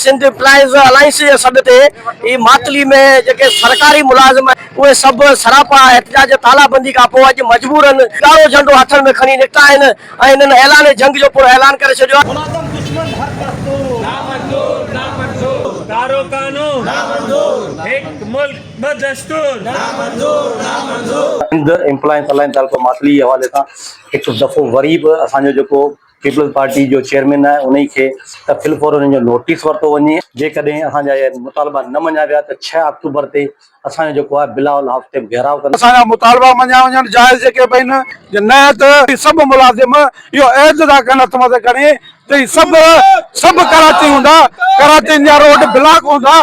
Sindh employees alliance جي سڏ تي ئي ماتلي ۾ جيڪي سرڪاري ملازم اهي سڀ سراپا احتجاج جي تالابندي کانپوء اڄ مجبورن ڳاڙهو جهنڊو هٿن ۾ کڻي نڪتا آهن ۽ انهن اعلان جنگ جو پڻ اعلان ڪري ڇڏيو آهي. ملازم دشمن هر دستور. نامنظور نامنظور. ڪارو قانون. نامنظور. هڪ ملڪ ٻه دستور. نامنظور نامنظور. سنڌ ايمپلائيز الائنس تعلقو ماتلي جي حوالي سان هڪ دفعو وري به اسان جو جيڪو پيپلز پارٽي جو چيئرمين آهي انهي کي ته في الفور انهن جو نوٽيس ورتو وڃي. جيڪڏهن اسان جا اهي مطالبا نه مڃيا ويا ته ڇهه آڪٽوبر تي اسان جو جيڪو آهي بلاول هائوس تي به گهيراء ڪنداسين. اسان جا مطالبا مڃيا وڃن جائز جيڪي به آهن جي نه ته هي سڀ ملازم اهو عهد ادا ڪن هٿ مٿي کڻي ته هي سڀ سڀ ڪراچي هوندا ڪراچين جا روڊ بلاڪ هوندا.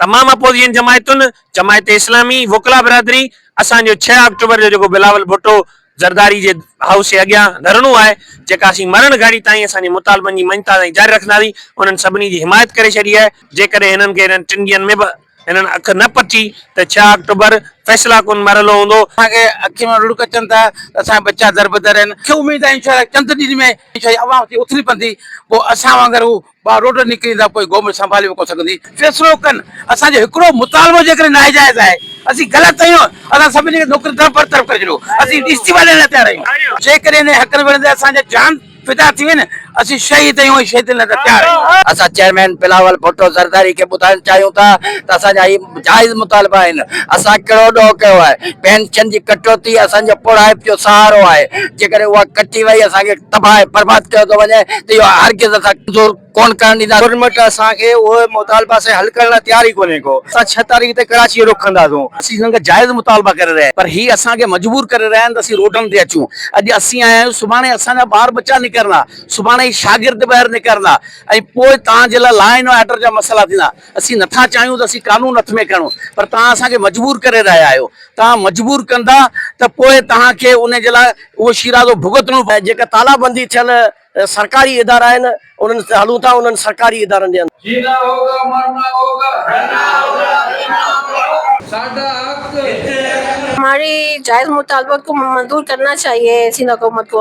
تمام اپوزيشن جماعتن جماعت اسلامي وڪلا برادري اسان جو ڇهه آڪٽوبر جو جيڪو بلاول ڀٽو زرداري جي هائوس جي اڳيان ڌرڻو آهي جيڪا اسين مرڻ گهڙي تائين اسان جي مطالبن جي مڃتا تائين جاري رکنداسين انهن سڀني جي حمايت ڪري ڇڏي آهي جيڪڏهن هنن کي انهن ٽن ڏينهن ۾ به هنن اک نه پٽي ته ڇهه آڪٽوبر فيصلا ڪن مرحلو هوندو. اسان کي اکين مان لڙڪ اچن ٿا ته اسان جا ٻچا دربدر آهن. مون کي اميد آهي انشاء الله چند ڏينهن ۾ انشاء الله عوام اٿي اٿلي پوندي پوء اسان وانگر هو ٻاهر روڊ نڪريندا پوء قوم سنڀالي به ڪونه سگهندي فيصلو ڪن اسان جو هڪڙو مطالبو جيڪڏهن ناجائز آهي اسين غلط آهيون اسان سڀني کي نوڪرين تان برطرف ڪري ڇڏيو اسين استعيفا ڏيڻ لاء تيار آهيون جيڪڏهن انهن حقن وڙهڻ تي اسان جا جان فدا ٿي وين اسين شهيد آهيون ۽ شهيدين لاء تيار آهيون. اسان چيئرمين بلاول ڀٽو زرداري کي ٻڌائڻ چاهيون ٿا ته اسان جا هي جائز مطالبا آهن، اسان ڪهڙو ڏوهه ڪيو آهي، پينشن جي ڪٽوتي اسان جي پوڙهائپ جو سهارو آهي، جيڪڏهن اها ڪٽي وئي اسان کي تباهه ۽ برباد ڪيو ٿو وڃي ته اهو هرگز اسان منظور ڪونه ڪرڻ ڏينداسين. گورنمينٽ اسان کي اهي مطالبا سائين حل ڪرڻ لاء تيار ئي ڪونهي ڪو، اسان ڇهه تاريخ تي ڪراچي جو رخ ڪنداسون. اسين سندن کان جائز مطالبا ڪري رهيا آهيون پر هي اسان کي مجبور ڪري رهيا آهن ته اسين روڊن تي اچون، اڄ اسين آيا آهيون سڀاڻي اسان جا ٻار ٻچا نڪرندا، سڀاڻي هي شاگرد ٻاهر نڪرندا ۽ پوء توهان جي لاء لا اينڊ آرڊر جا مسئلا ٿيندا. اسين نٿا چاهيون ته اسين قانون هٿ ۾ کڻون پر توهان اسان کي مجبور ڪري رهيا آهيو. توهان مجبور ڪندا ته پوء توهان کي ان جي لاء اهو شيرازو ڀڳتڻو پوندو. جيڪا تالا بندي ٿيل سرڪاري ادارا آهن انهن تي هلون ٿا انهن سرڪاري ادارن جي اندر. جينا هوگا مرنا هوگا رهنا هوگا پينا هوگا. ساڍا حق هتي هتي. هماري جائز مطالبات ڪو منظور ڪرنا چاهيي سندھ حڪومت ڪو.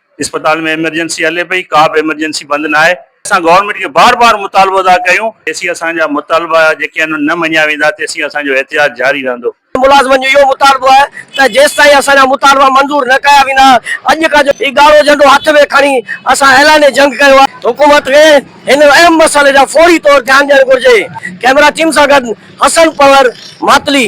اسپتال ۾ ايمرجنسي هلي پئي ڪا به ايمرجنسي بند ناهي. اسان گورنمينٽ کي بار بار مطالبو ادا ڪيون. جيسين اسان جا مطالبا جيڪي آهن نه مڃيا ويندا تيسين اسان جو احتجاج جاري رهندو. ملازمن جو اهو مطالبو آهي ته جيستائين اسان جا مطالبا منظور نه ڪيا ويندا اڄ کان جو هي ڳاڙهو جهنڊو هٿ ۾ کڻي اسان اعلان جنگ ڪيو آهي. حڪومت کي هن اهم مسئلي ڏانهن فوري طور ڌيان ڏيڻ گهرجي. ڪئميرا ٽيم سان گڏ حسن پنهور ماتلي.